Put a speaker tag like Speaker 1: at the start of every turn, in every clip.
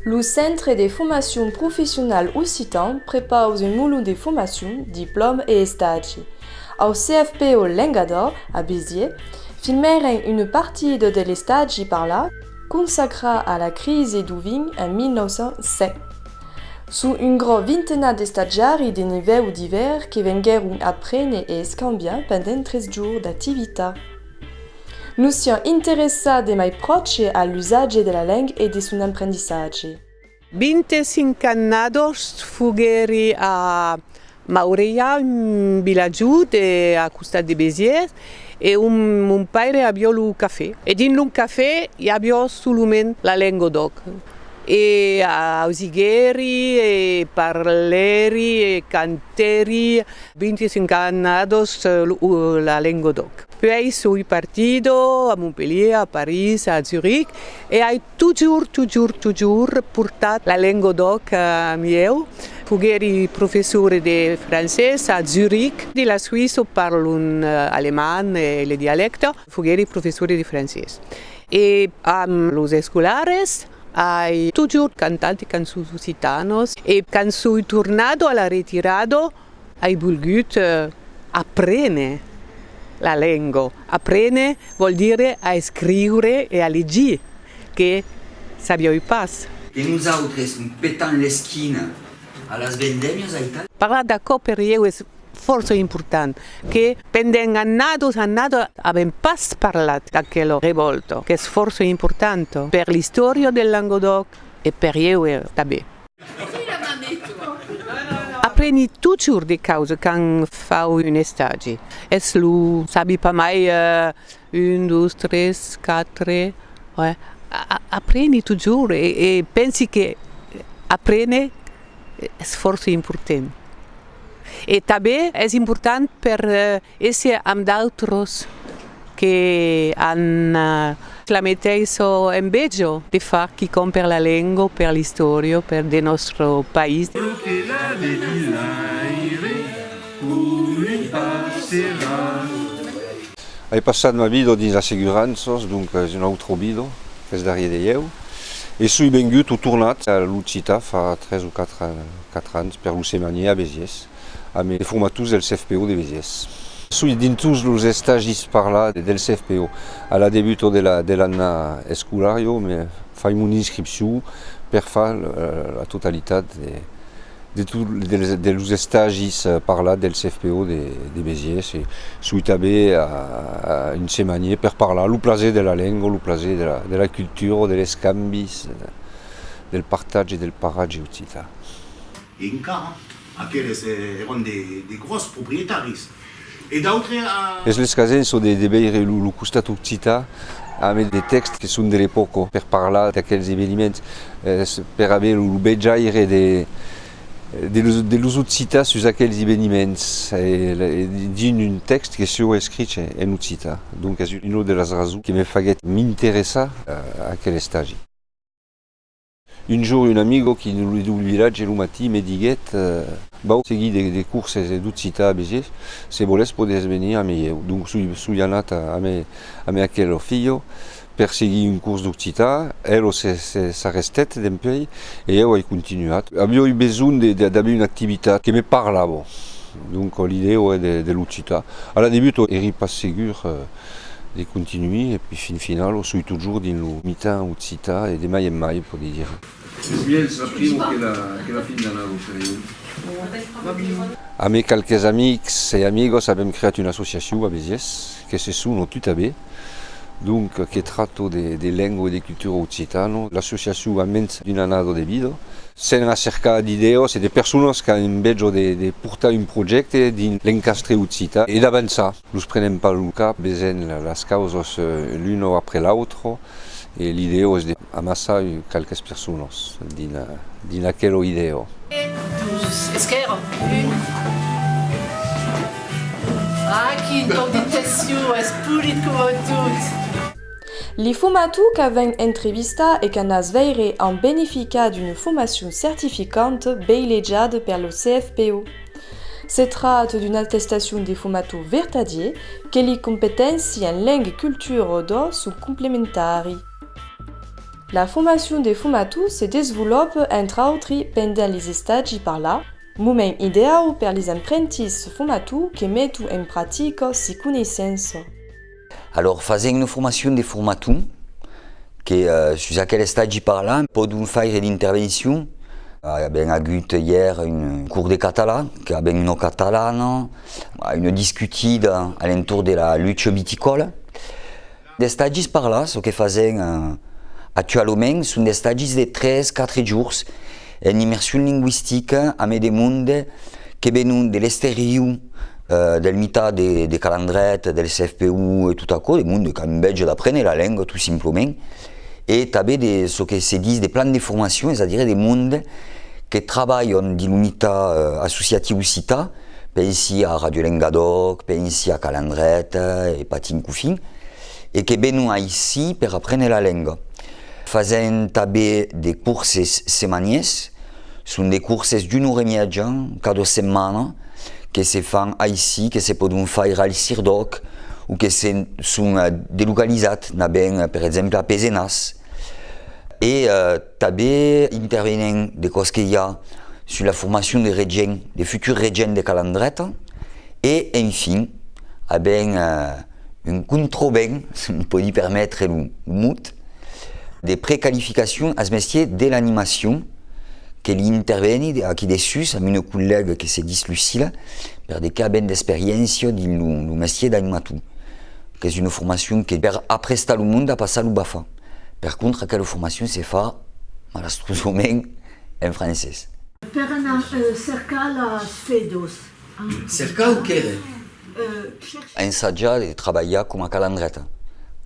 Speaker 1: Lo Centre de Formacion Professional Occitan prepausa un molon de formacion, diplòma e estagi. Au CFPO Lenga d'Òc, a Béziers, filmèren una partida de l'estagi parlat consacrat a la crisi d'Oving en 1907. Suu un grò vintenat d'estatiari de nivèu d'ivèr que venguèron aprene e escambiar pendent tres jours d'activita. Nos sián interessats de mai pròche a l'usatge de la leng e de son emprendissatge. Vinte-cinc
Speaker 2: annadors foguèri a Maureia, un vilatjut a costat de Béziers, e ont mon paire avió lo cafè. E dins lo cafè i avió solament la lenga d'òc. E ausiguèri e parlèri e cantèri. 25 annados la lenga d'òc. Puèi soi partida a Montpelhier, a París, a Zurich. E ai totjorr, totjorr, totjorr portat la lengo d'òc amb ieu. Foguèri professor de francés a Zürich. De la Suisse parlon alemand e le dialècte. Foguèri professor de francés. E amb los escolares ai totjorr cantat de cançons occitanos. E quand soi tornado a la retirada. Ai volgut aprene la lengo. Aprene vòl dire a escriure e a legir, que sabioi pas. E nosautres
Speaker 3: petant l'esquina a las vendemias ai tal. Parlar d'aquò per ieu
Speaker 2: es fòrça important, que pendent annados annados avèm pas parlat d'aquela revòlta, qu'es fòrça importanta per l'istòria del Languedòc e per ieu tanben. Apreni totjorn de causes quand fau un estagi. Es lo sabi pas mai un, dos, tres, quatre. Apreni totjorn e pensi que aprene es fòrça important. E tanben es important per E se amb d'autres que an la meteissa enveja de far quicòm per la lenga, per l'istòria, per de nòstre país. Lo que la vedilaire voli
Speaker 4: pas serrar. Ai passat ma vida dins l'asseguranças, donc es una autra vida qu'es darrier de ieu. E soi vengut o tornat a l'Occità fa tres o quatre ans per lo semanier a Besiers. amb de formators del CFPO de Besièrs. Soi dins tots los estagis parlats del CFPO. A la debuta de l'anna escolar jo me fai mon inscripcion per far la totalitat de los estagis parlats del CFPO de Besièrs e soi tanben un semanièr per parlar lo plaser de la lenga, lo plaser de la cultura, de l'escambi, del partatge, del paratge occitan.
Speaker 5: E encara, aqueles èran de gròs proprietaris. E d'autres a. Es
Speaker 4: l'escasen çò de veire lo costat occitan ambe de tèxts que son de l'epòca per parlar d'aquels eveniments, per aver lo vejaire de los occitans sus aquels eveniments dins un tèxt que sieu escrich en occitan. Donc es una de las rasons que me faguèt m'interessar a aquel estagi. Un jour un amigo qui ne lui dubli ratge lo matin me diguèt, Vau seguir de curses d'occitan a Béziers, se volètz podètz venir amé ieu. Donc soi anat amé aquel filho per seguir un curs d'occitan, el s'arrestèt dempuèi e ieu ai continuat. Aviá eu besonh d'aver una activitat que me parlava, donc l'idèa de l'occitan. A la debut èri pas segur de continuir e pui fin final o soi totjorn dins lo mitan occità e de mai en mai pòdi dire. Es mièlhs la
Speaker 6: primo que la fin d'ana lo serion. Amb e qualques
Speaker 4: amics e amigos avèm creat una associacion a Besièrs que se sono tuta be donc que trato de lengo e de cultura occitano. L'associacion a mens d'un anado de vida. Sen la cerca d'idèos e de personas qu'an un bèjo de portar un projècte dins l'encastre occità e d'avançar. Nos prenem pas lo cap, vesèm las causas l'una après l'autra e l'idèo es de amassar qualques personas dins aquela idèo. E dus es qu'èran, un a qui ton
Speaker 7: d'intencion es polit
Speaker 1: coma tot. Li fuma tu qu'a ven entrevistar e qu'a nas veire amb benefica d'una fumacion certificante beilejada per lo CFPO. Se tract d'una attestacion de fumator vertadier que li competénci en leng e cultura o do son complementari. La formacion de fumator se desvolop, entre autri, pendent les estagi par la, moment ideau per les emprentits fumator que meton en pratica si coneissença. Alòrs
Speaker 3: fasèm una formacion de formaton que sus aquel estagi parlam pòdon faire d'intervencion. Avèm agut ièr un cors de catalan que avèm una catalana, una discutida a l'entorn de la lucha viticòla. D'estagis parlats çò que fasèm actualament son d'estagis de tres, quatre jorns. En immersion lingüistica ame de monde que venon de l'esteriu del mitat de Calandret, del CFPU e tot aquò, de monde qu'an bètge d'aprene la lenga tot simplament e tanben de çò que se dis de plan de formacion, es a dire de monde que trabalhan dins lo mitat associatiu occitan, pensi a Radio Lengadòc, pensi a Calandret e patin cofin, e que venon aicí per aprene la lenga. Fasèm tanben de corses semaniers, son de corses d'una ora e mièja cada setmana que se fan aicí, que se pòdon faire al Sirdòc o que se son delocalizat, anabèm per exemple a Pesenàs e tanben intervenèm de còps que i a sus la formacion de regents, de futurs regents de Calandreta e enfin avèm Un controbèn, se me pòdi permetre lo mot, de precalificacion as mestiers de l'animacion que li interveni aquí dessús amb una collèga que se dis Lucila, per de qu'a ben d'experiéncia dins lo mestier d'animator. Qu'es una formacion que per aprestar lo monde a passar lo BAFA. Per contra aquela formacion se fa, malastrosament, en francés. Per anar cercar las fedós.
Speaker 8: Cercau
Speaker 3: qu'ère. Ensajar e trabalhar coma cal en dret,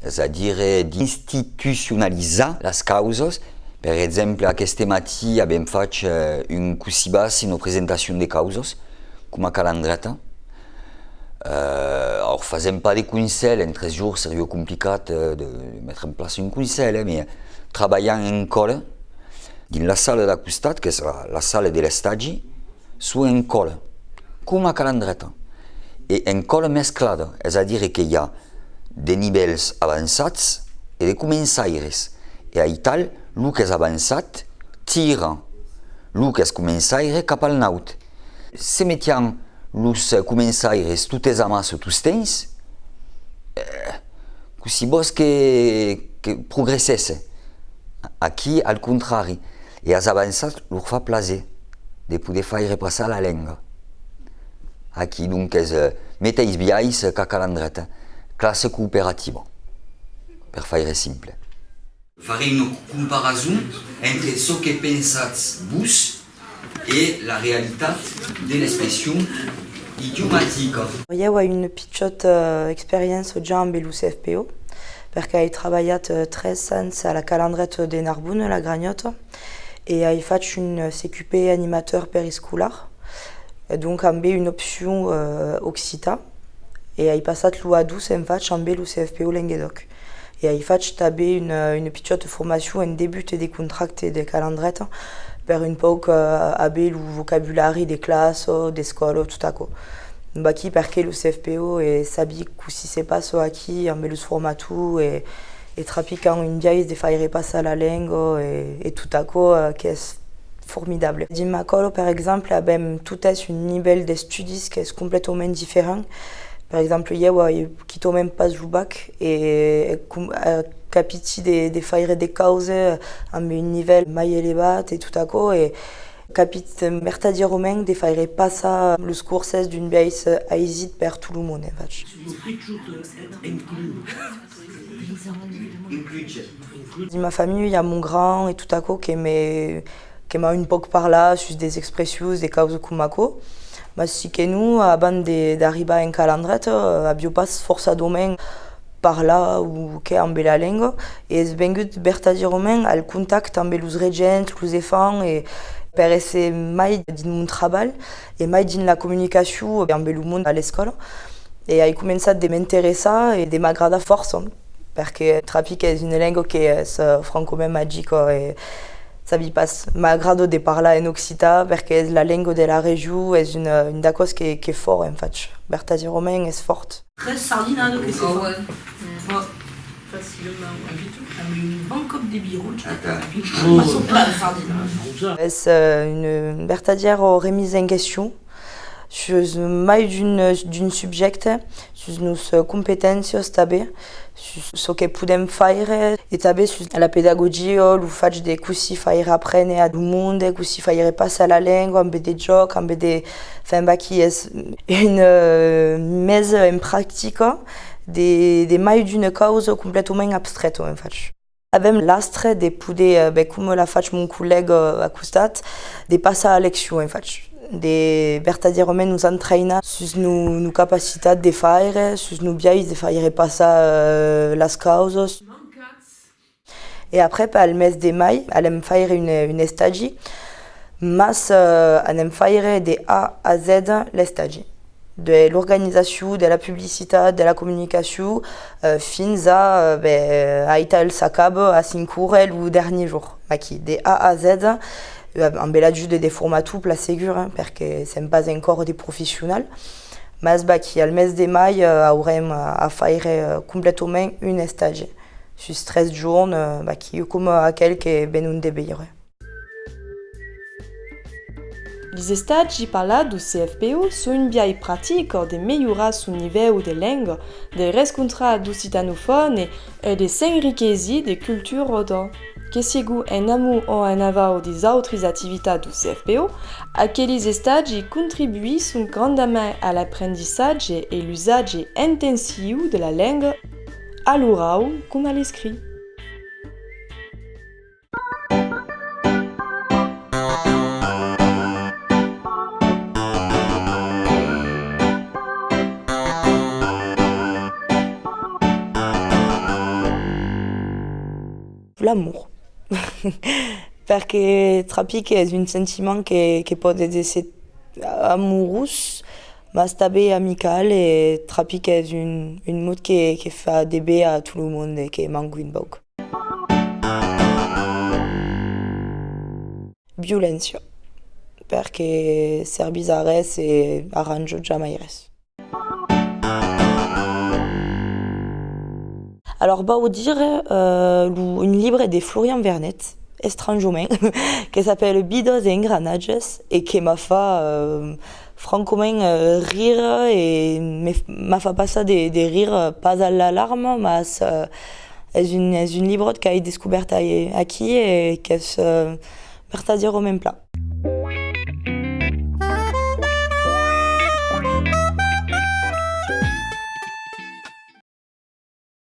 Speaker 3: es a dire d'institucionalizar las causas, per exemple aqueste matí avèm fach un cossibas eno presentacion de causas coma cal en dret, aor fasèm pas de conselh, en tres jours seriou complicat de metre en plaça un conselh, me trabalham en còle dins la sala d'a costat qu'es la sala de l'estagi, Suu en còle, coma calandreta, e en còle mesclada, es a dire que i a de nivèls avançats e de començaires, e aital lo qu'es avançat tira lo qu'es començaire cap al naut. Se metián los començaires totes amas tostemps? Cossí vòs que progressèsse? Aquí, al contrari, e as avançats lor fa plaser de poder faire passar la lenga. Aquí, donques, meteis biais qu'a Calandret, classe cooperativa, per faire simple. Farè una comparason entre çò que pensatz vos e la realitat de l'expression idiomatica. Ieu ai
Speaker 1: una pichòta experiéncia ja ambe lo CFPO, perque ai trabalhat 3 ans a la Calandreta de Narbona, la Granhòta, e ai fach un CQP animateur periscolar, donc ambe una opcion occitan, e ai passat lo A2 en fach ambe lo CFPO Lenguedoc. E ai fach tanben una una pichòta formacion en debut e de contracte de calandreta per un pauc aver lo vocabulari de classa, d'escòla, tot aquò. Vaquí perqué lo CFPO e sabi cossí se passa aquí ambe los formators e e trapican un biais de faire passar la lenga e e tot aquò qu'es formidable. Dins ma còla, per exemple, avèm totes un nivèl d'estudis qu'es completament diferent. Per exemple, ieu ai Quitòmen pas lo bac e capiti de faire de cause amb un nivèl mai elevat e tot aquò e capit mertadièrament de faire passar los corses d'un biais aisit per tot lo monde. Dins ma familha, mon grand e tot aquò que m'a un pauc parlat sus des expressions de causa coma aquò. Mas si que non, abans d'arribar en cal endret, avió pas forçadament parlat o qué ambe la lenga, e es vengut vertadièrament al contacte ambe los regents, los efants e, per èsser mai dins mon trabalh e mai dins la comunicacion ambe lo mond a l'escòla, e ai començat de m'interessar e de m'agradar fòrça. Perque trapi qu'es une lenga que es francomènt magica e sabi pas, m'agrado de parlar en occitan perque es la lenga de la region, es une d'aquos qu'es fòrt en fach, vertaziromènt
Speaker 8: es
Speaker 1: fòrt. Res sardina de que se
Speaker 7: fa. Pas facilament
Speaker 3: avitat amb
Speaker 7: un bon còp de birotge a cada fin. Pas
Speaker 1: sopar de sardina. Es un vertazièr remisa en question. sus mai d'un subjècte, sus nos competéncias tanben, sus çò que podèm faire e tanben sus la pedagogia, lo fach de cossí faire aprene a lo monde, cossí faire passar la lenga ambe de jòc, ambe de femba qui es una mesa en practica de mai d'una causa completament abstrèta, en fach. Avèm l'astre de poder, ben coma l'a fach mon collègue a costat, de passar a leccion, en fach, de vertadièrament nos entraïnar sus nos capacitats de faire, sus nos biais de faire passar las causas. E après, per al mes de mai, alèm faire un estagi, mas anèm faire de A a Z l'estagi. de l'organizacion, de la publicitat, de la comunicacion, fins a aital el sacab a Sincure lo dernier jour, maqui de A a Z, amb l'ajude de formator plan segur, perque sèm pas encòr de professional, mas vaqui al mes de mai aurem a faire completament un estage sus tres jorn, vaqui coma aquel que venon de veire. Lis estats ji parlat du CFPU son un biais pratic de melhorar son nivèu de lenga, de rescontrar d'occitanofòn e de s'enriquesir de culturòda. Que sigu en amu o en avau des autris activitats du CFPU, aquelis estats ji contribuisson grandament a l'aprendissatge e l'usatge intensiu de la lenga a l'orau coma a l'escrit. L'amour. Perque trapi qu'es un sentiment que que pòde èsser amorós, mas tanben amical e trapi qu'es un un mot que que fa de be a tot lo monde e que m'encuin pauc. Violéncia. Perque servís a res e arranjo jamai res. Alòr vau dire un libre de Florian Vernet, estranjament, que s'apèle Bidots e engranatges e que m'a fa Francament, rire e me m'a fa passar de rire, pas a la larma, mas es un librot qu'ai descobèrt aquí e qu'es vertadièrament plan.